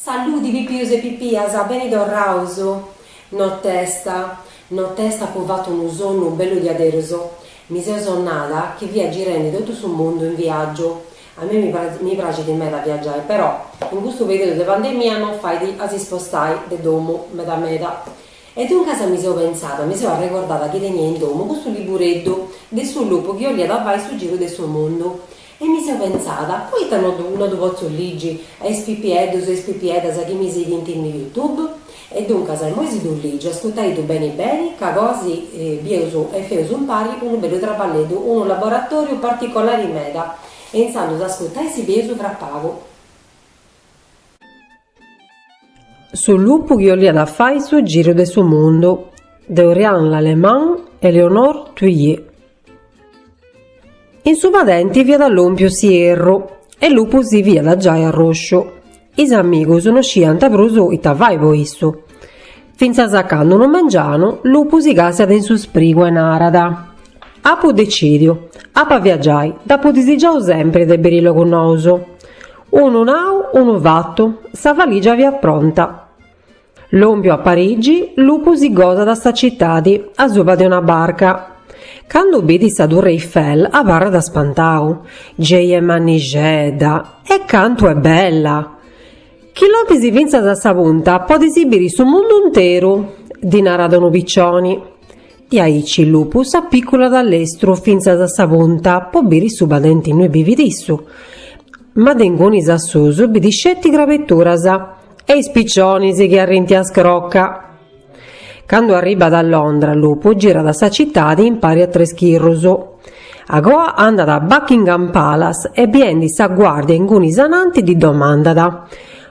Saludi pipius e pipias, beni torraus. Notesta, notesta apu fatu unu sonnu bellu diaderus, mi seu sonnada chi fia girendi totu su mundu in viaggiu, a mei mi mi praxit meda viaggiai però in custu periudu de pandemia non fait a si spostai de domu meda meda e duncas mi seu pentzada, mi seu arregordada chi tenia in domu custu libureddu de su lupu chi 'oliat fai su giru de su mundu E mi seu pentzada, poita no ddu no ddu potzu ligi a is pipieddus e is pipieddas chi mi sighint in YouTube? E duncas immoi si ddu ligiu, ascutaiddu beni beni, ca agoa si bieus e feus impari unu bellu traballeddu, unu laboratòriu particolari meda, e intzandus ascutai si bieus fra pagu. Su lupu chi 'oliat fai su giru de su mundu de Orianne Lallemand e Éléonore Thuillier. In su padenti fiat lompiu s'ierru e lupu si fiat giai arrosciu. Is amigus no sciant prus ita fai po issu. Fintzas a candu unu mengianu lupu si càstiat in su sprigu e narat, Apu decidiu, ap'a viagiai, dd'apu disigiau sempri de biri logus nous. Unu nau, unu fatu, sa valìgia fiat pronta. Lòmpiu a Parigi, Lupu si gosat sa citadi, asuba de una barca. Candu bidit sa Turre Eiffel, abarrat spantau, Gei est mannixedda! E cantu est bella! Chi lompis fintzas a sa punta podis biri su mundu interu! ddi narat unu picioni. Diaici lupu s'apiculat a lestru fintzas a sa punta po biri su padenti innui bivit issu. Ma de ingunis a susu bidit sceti crabeturas e is picionis chi arrinti a scroca. Candu arribat a Londra lupu girat sa citadi impari a tres schirrus. Agoa andat a Buckingham Palace e biendi sa guardia ingunis ananti ddi domandat,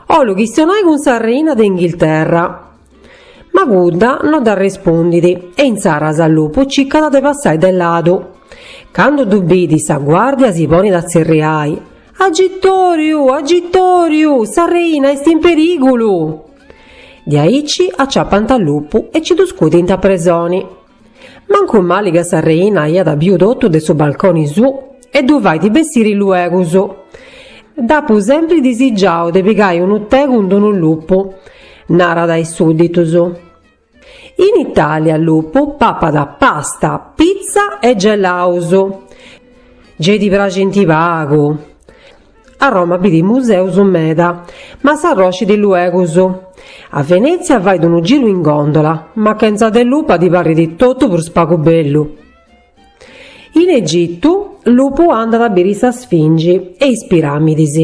'Ollu chistionai cun sa reina de Inghilterra. Ma cudda no dd'arrespundit e intzaras lupu cicat de passai de ladu. Candu ddu bidit sa guardia si ponit a tzerriai, Agitoriu! Agitoriu! Sa reina est in perigulu! Diaici acciappant a lupu e ci ddu scudint a presoni. Mancu mali ca sa reina aiat biu totu de su balconi suu e ddu fait bessiri luegus. Dd'apu sempri disigiau de pigai unu tè cun d'unu lupu, narat a is sudditus. In Italia lupu papat pasta, pizza e gelaus. Gei ti praxint pagu? A Roma bit museus meda, ma s'arroscit luegus. A Venètzia fait unu giru in gòndola, ma chentza de lupa ddi parrit totu prus pagu bellu. In Egitu, Lupu andat a biri sa Sfingi e is piràmidis.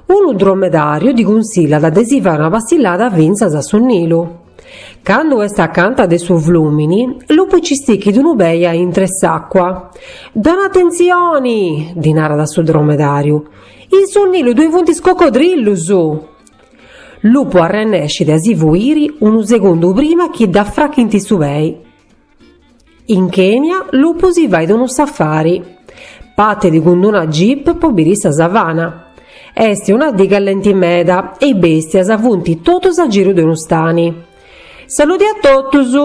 Unu dromedàriu ddi cunsillat de si fai una passillada fintzas a su Nilu. Candu est acanta de su flùmini, Lupu ci stichit unu pei a intre s'àcua. Dona atentzioni! ddi narat su dromedàriu. In su Nilu ddoi funt is cocodrillus! Lupu arrennescit a si fuiri unu segundu prima chi dd'afrachint su pei. In Kenia Lupu si fait unu safari. Partit cun una jeep po biri sa savana. Est una dì callenti meda e is bèstias funt totus a giru de unu stani. Saludi a totus!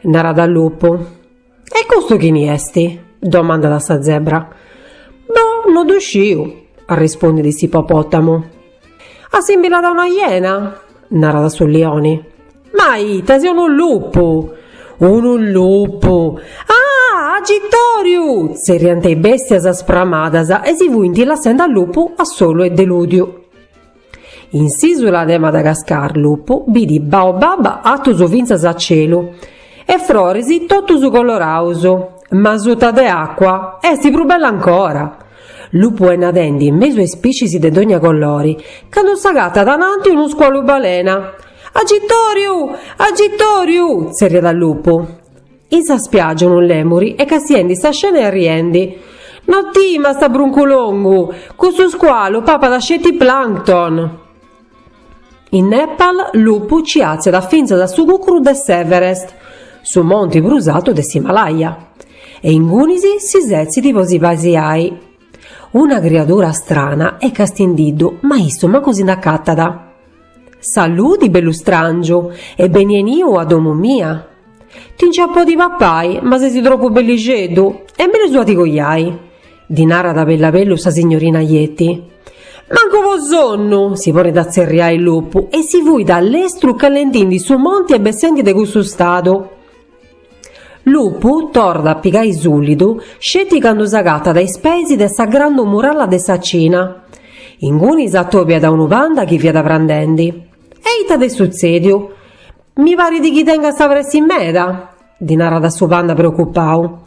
narat Lupu. E custu chini est? domandat sa zebra. Boh, no ddu sciu, arrispondet s'ipopòtamu. Assimbillat a una iena? narat su lioni. Ma ita, seu unu lupu! Unu lupu! Ah! Agitoriu! tzerriant is bèstias spramadas e si fuint lassende a lupu a solu e delùdiu. In s'ìsula de Madagascar lupu bit baobab atus fintzas a celu e froris totus coloraus, ma suta de àcua est prus bella ancora. Lupu est nadendi in mesu a is piscis de dogna colori, candu s'agatat ananti unu scualu balena. Agitoriu! Agitoriu! tzerriat lupu. In sa spiaggia unu lèmuri est castiendi sa scena e arriendi. No timast, bruncu longu, custu scualu papat sceti plancton! In Nepal lupu nci atziat fintzas a su cucru de s'Everest, su monti prus artu de s'Himalaya, e ingunis si setzit po si pasiai. Una criadura strana est castindiddu ma issu mancu si nd'acatat. Saludi bellu stràngiu e beni 'eniu a domu mia. Ti nci ia a podi papai ma sesi tropu bellixeddu e mellus a ti coiai. Ddi narat bellu a bellu sa signorina Yeti. Mancu po sonnu! si ponet a tzerriai Lupu e si fuit a lestru calendindi su monti e bessendi de cussu stadu. Lupu torrat a pigai sulidu sceti candu s'agatat a is peis de sa grandu muralla de sa Cina. Ingunis atobiat unu panda chi fiat prandendi. E ita t'est sutzediu? Mi parit chi tengast pressi meda! Ddi narat su panda preocupau.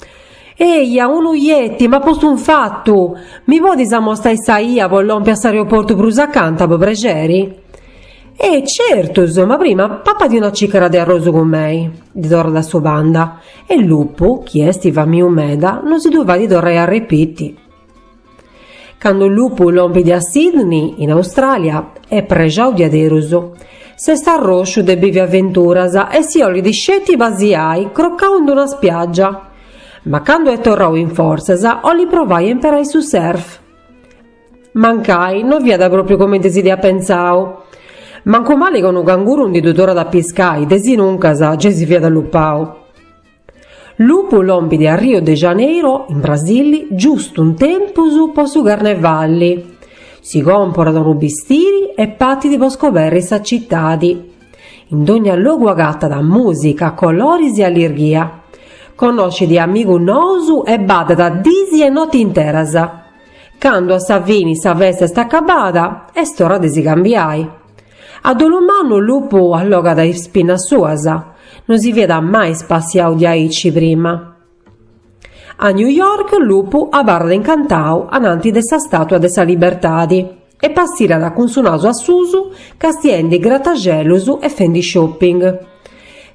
Eja, unu Yeti m'at postu infatu! Mi podis amostai sa 'ia po lompi a s'aeroportu prus acanta, po prexeri? E, certus, ma prima papadi una cìcara de arrosu cun mei, ddi torrat su panda. E Lupu, chi est famiu meda, no si ddu fait torrai a repiti. Candu Lupu lompit a Sydney, in Austràlia, est prexau diaderus. S'est arrosciu de bivi aventuras e si 'olit sceti pasiai crocau in d-una spiàgia. Ma candu est torrau in fortzas 'olit provai a imparai su surf. Mancai no fiat pròpiu comenti si dd'iat pentzau. Mancu mali ca unu canguru ndi ddu torrat a piscai, de si nuncas, gei si fiat allupau. Lupu lompit a Rio de Janeiro, in Brasili, giustu in tempus po su carnevalli. Si comporat unu bistiri e patit po scoberri sa citadi. In dogna logu agatat mùsica, coloris e allirghia. Connoscit amigus nous e baddat dis e noti interas. Candu a sa fini sa festa est acabada, est ora de si cambiai. A dolu mannu lupu allogat is pinnas suas, no si fiat mai spassiau diaici prima. A New York lupu abarrat incantau ananti de sa stàtua de sa libertadi e passirat cun su nasu a susu castiendi grataxelus e fendi shopping.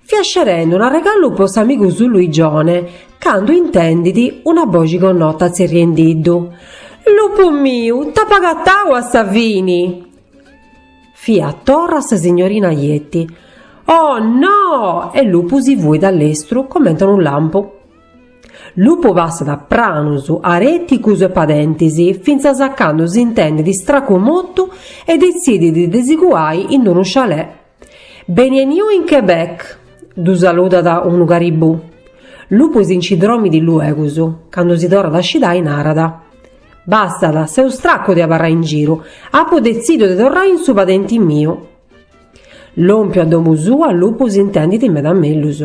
Fiat scerendi un arregalu po s'amigu suu Luigione candu intendit una boxi connota tzerriendiddu, Lupu miu, t'apu agatau a sa fini! Fiat torra sa signorina Yeti. Oh, no! E Lupu si fuit a lestru comente a unu lampu. Lupu passat pranus àrticus e padentis, fintzas a candu s'intendit stracu motu e detzidit de si cuai in d-unu chalet Beni 'eniu in Quebec! ddu saludat unu caribù. Lupu si nci dromit luegus, candu si torrat a scidai narat, Bastat, seu stracu de abarrai in giru, apu detzidu de torrai in su padenti miu. Lòmpiu a domu sua Lupu s'intendit meda mellus.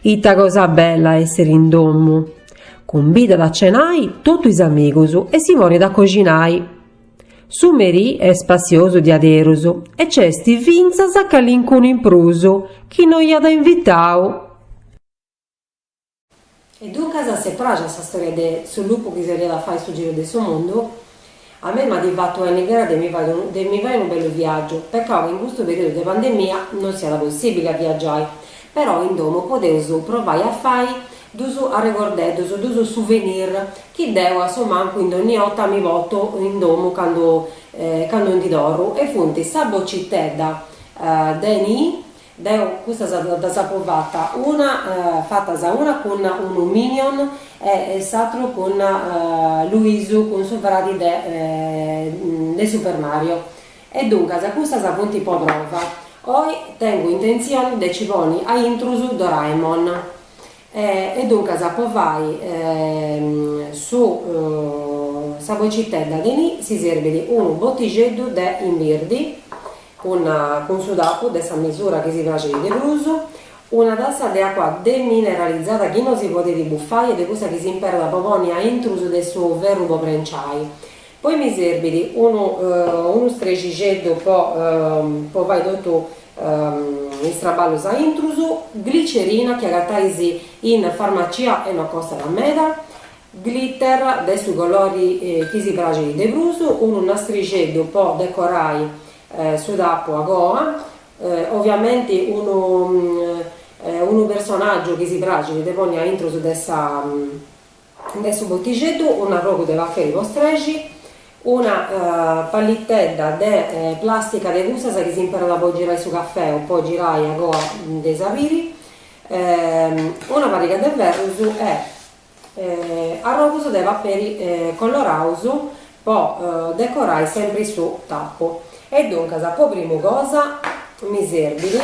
Ita cosa bella a èssiri in domu! Cumbidat a cenai totu is amigus e si ponit a coxinai. Su merì est spassiosu diaderus e nc'est fintzas calincunu in prus chi no iat invitau. E duncas s'est pràxida sa stòria de su lupu chi si 'oliat fai su giru de su mundu? A mei m'at fatu 'enni gana de mi fai unu bellu viàgiu, pecau chi in custu perìodu de pandemia no siat possìbili a viagiai, Però in domu podeus provai a fai dus arregordeddus, dus souvenir chi deu a su mancu in dònnia 'orta mi potu in domu candu candu ndi torru e funt sa bocitedda de ni, deu custas ddas apu fata una fatas una cun unu minion e s'aturu cun Luisu cun su fradi de de Super Mario E duncas custas funt po prova. Oi tengu intentzioni de ci poni a intrus Doraemon. E duncas po fai su sa bocitedda de nii si serbit unu botixeddu de imbirdi cun cun su tapu de sa misura chi si praxit de prus, una tassa de acua demineralizada chi no si podit buffai est de cussa chi s'imperat po poni a intrus de su ferru po prenciai. Poi mi serbit unu unu strexixeddu po po fai totu is traballus aintrus, glicerina chi agatais in farmacia e no costat meda, glitter de su colori chi si praxit de prus, unu nastrixeddu po decorai su tapu a goa, oviamenti unu unu personaggiu chi si praxit de poni aintrus de sa De su botixeddu un'arrogu de paperi po strexi, una pallitedda de plàstica de cussas chi s'imperat po girai su cafè o po girai ancà de is aperi, una pariga de ferrus e arrogus de paperi coloraus po decorai sempri su tapu. E duncas po primu cosa mi serbit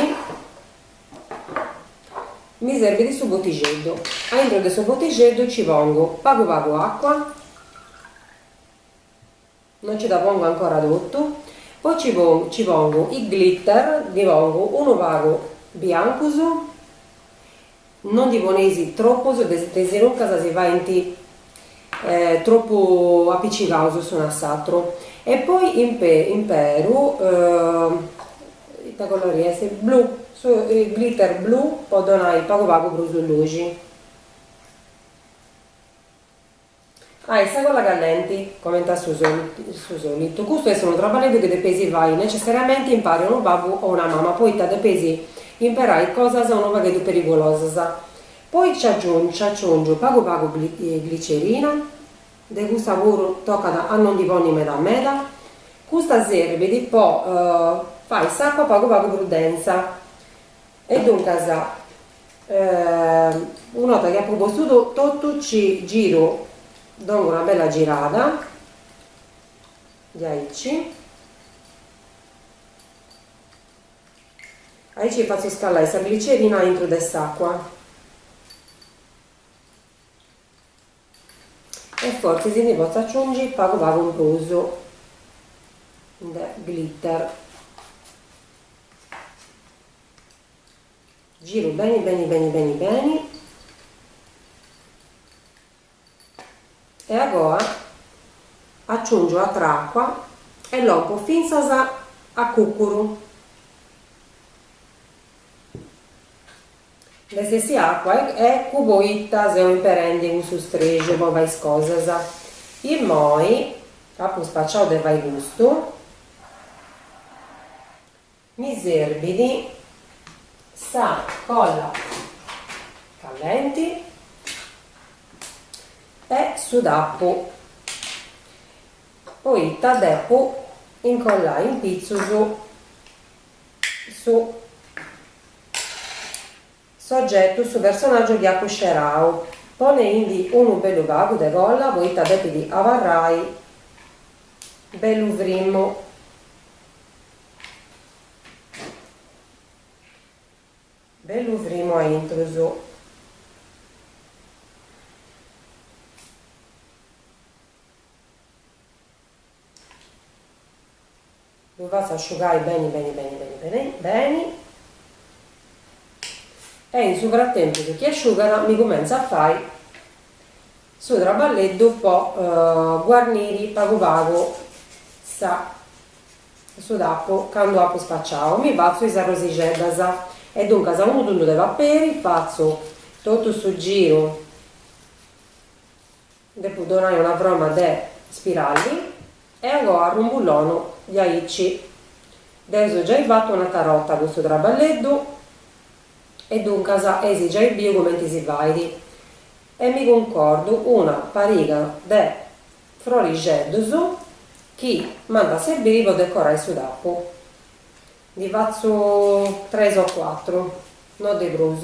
mi serbit su botixeddu, a intro de su botixeddu ci pongu pagu pagu acua, non ci dda pongu ancora totu, poi ci pongu ci pongu is glitter, ndi pongu unu pagu biancus, non ndi poneis tropus desinuncas si faint tropu apicicaus s'unu a s'aturu e poi imperu Ita colori est? Blu. Su glitter blu po donai pagu pagu prus luxi. Ah, e sa colla callenti, comenti a su su solitu. Custu est unu traballeddu chi depeis fai necessariamenti impari a unu babbu o una mama poita depeis imperai cosas unu pagheddu perigulosas. Poi nci aciungiu pagu pagu glicerina De custa puru tocat a no ndi poni meda meda. Custa serbit po fai s'acua pagu pagu prus densa. E duncas una 'orta chi apu postu totu ci giru, dongu una bella girada diaici, aici fatzu scallai sa glicerina aintru de s'acua. E fortzis si ndi potzu aciungi pagu pagu in prus de glitter. Giru beni beni beni beni beni e agoa aciungiu atra acua e lompu fintzas a cucuru. Nd'est essia acua e eccu poita seu imperendi cussu strexu po fai is cosas. Immoi apu spaciau de fai custu, mi serbit sa colla callenti e su tappu poita depu incollai in pitzus. su sogetu, su personàgiu chi apu scerau, poneindi unu bellu pagu de colla poita depit abarrai bellu frimmu. Bellu frimmu a intrus. Ddu fatzu asciugai beni beni beni beni beni beni e in su fratempus chi asciugat mi cumentzu a fai su traballeddu po guarniri pagu pagu sa su tappu candu apu spaciau mi fatzu is arrosixeddas e duncas unu tundu de paperi fatzu totu su giru Depu donai una froma de spiralli e agoa arrumbullonu diaici. Dd'eus giai fatu un'atra borta custu traballeddu e duncas eis giai biu cumenti si fait e mi cuncordu una pariga de frorixeddus chi m'ant a serbiri po decorai su tapu. Ndi fatzu tres o cuatru, no de prus.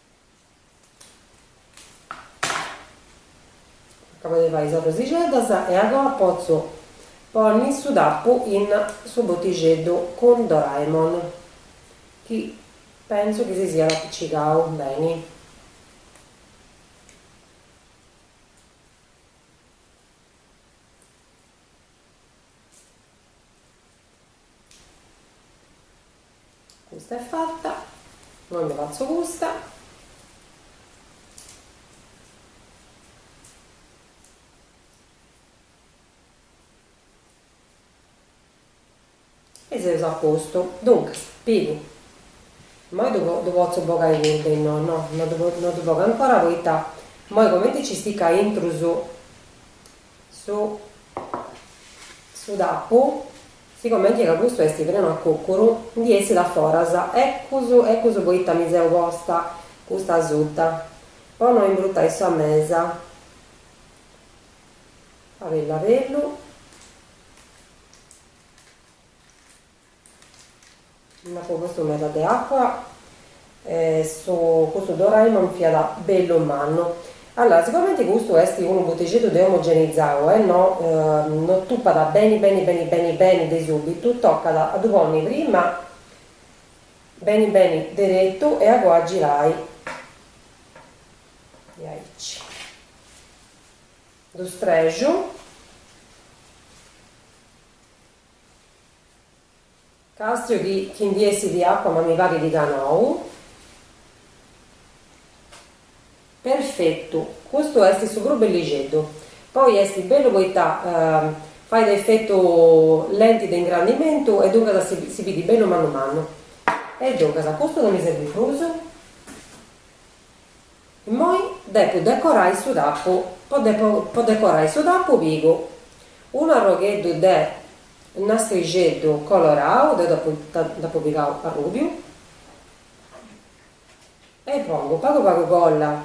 Acabu de fai is arrosixeddas e agoa potzu ponni su tappu in su botixeddu cun Doraemon chi pensu chi si siat apicigau beni. Custa est fatta, no nde fatzo custa. E seus a postu. Duncas, pigu. Immoi ddu ddu potzu bogai cuddu, e no, no, no ddu no ddu bogu ancora poita immoi comenti nci stichit intru su su su tappu, sigumenti ca custu est prenu a cucuru, ndi essit a foras. Eccus, eccus poita mi seu posta custa asuta, po no imbruttai sa mesa. Abellu abellu. Nd'apo postu meda de acua e su custu Doraemon fiat bellu mannu. Allora, sigumenti custu est unu botixeddu de omogenizau e no no tupat beni beni beni beni beni de subitu, tocat a ddu ponni prima beni beni deretu e a goa girai diaici. Ddu strexu Càstiu chi chi ndi essidi acua ma mi parit ca nou. Perfetu Custu est su prus bellixeddu poi est bellu poita fait efetu lenti de ingrandimentu e duncas si si bidit bellu mannu mannu e duncas custu no mi serbit prus. Immoi depu decorai su tappu po po decorai su tappu pigu unu arrogheddu de nastrixeddu colorau, deu dd'apu dd'apu pigau arrubiu e i pongu pagu pagu colla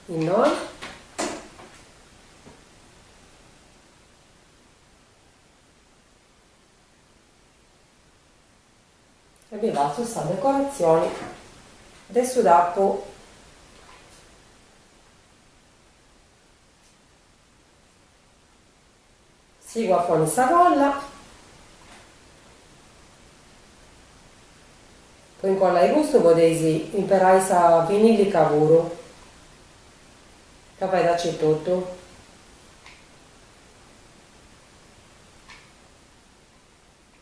innoi E ddi fatzu sa decoratzioni de su tappu. Sigu a ponni sa colla. Po incollai custu podeis imperai sa vinillica puru ca fait aici totu.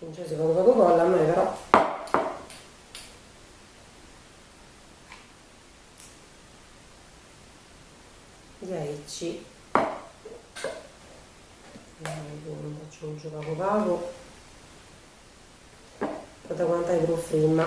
Nc'est pagu pagu colla a mei però. Diaici aggiungiu pagu pagu po dda aguantai prus frima.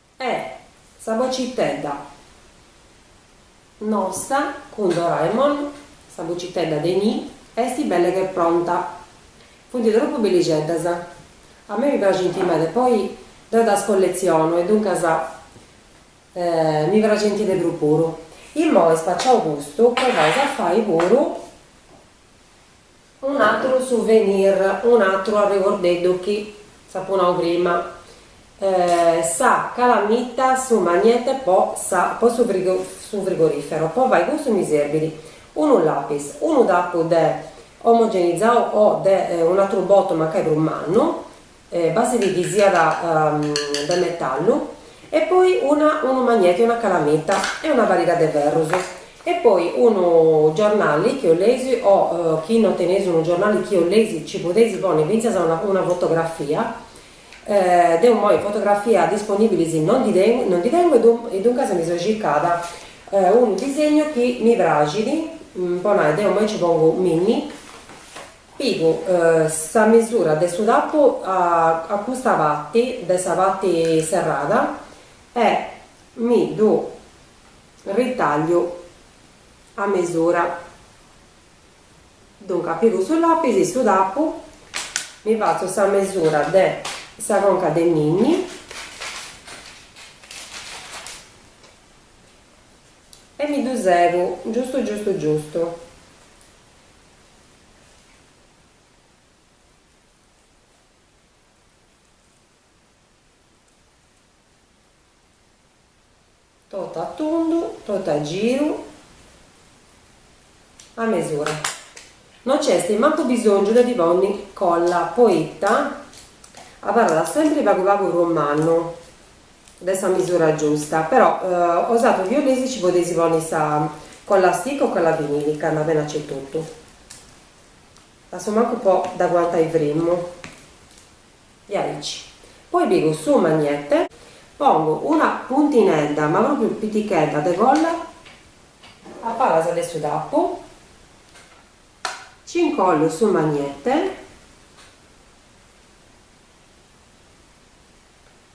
E sa bocitedda nossa cun Doraemon, sa bocitedda de nii, est belle che pronta. Funt tropu bellixeddas. A mei mi praxint meda, poi deu ddas colletzionu e duncas mi praxint de prus puru. Immoi spaciau custu, provaus a fai puru Un'atru souvenir, un'atru arregordeddu chi s'apu nau prima, sa calamita, su magnete po su frigorifero, po fai cussu mi serbit unu lapis, unu tapu de omogenizau o de un'atru botu mancai prus mannu, Bastit chi siat de metallu e poi unu magneti una calamita e una pariga de ferrus e poi unu giornali chi 'oleis o chi no teneis unu giornali chi 'oleis ci podeis ponni fintzas una fotografia deu moi fotografia disponibilis no ndi tengu e duncas mi so circada unu disegnu chi mi praxit po nai deu moi ci pongu Minni Pigu sa mesura de su tapu a custa parti de sa parti serrada e mi ddu ritagliu a mesura. Duncas pigu su lapis e su tapu, mi fatzu sa mesura de sa conca de Minni e mi ddu segu giustu giustu giustu. Totu a tundu, totu a giru, a mesura. No nc'est mancu bisòngiu de ddi ponni colla, poita abarrat sempri pagu pagu prus mannu. de sa misura giusta, però 'osatrus chi 'oleis ci podeis ponni sa colla stick o colla vinilica andat beni aici etotu, a su mancu po dd'aguantai frimmu, e aici poi pigu su magnete, pongu una puntinedda ma propriu pitichedda de colla a palas de su tappu, ci incollu su magnete,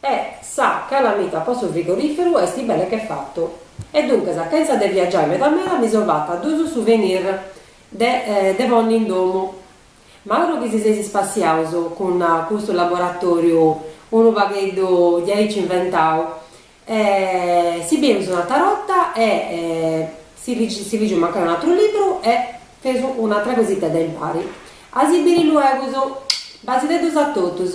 E sa calamita po su frigoriferu esti belle che fatta. E duncas chenza de viaggiai meda meda mi so fatta dus souvenir de de ponni in domu. M'auguru chi si seis spassiaus cun custu laboratoriu unu pagheddu diaici inventau e si bieus un'atra 'orta e si ligeus mancai un'atru libru e feus un'atra cositedda impari. A si biri luegus. Basideddus a totus.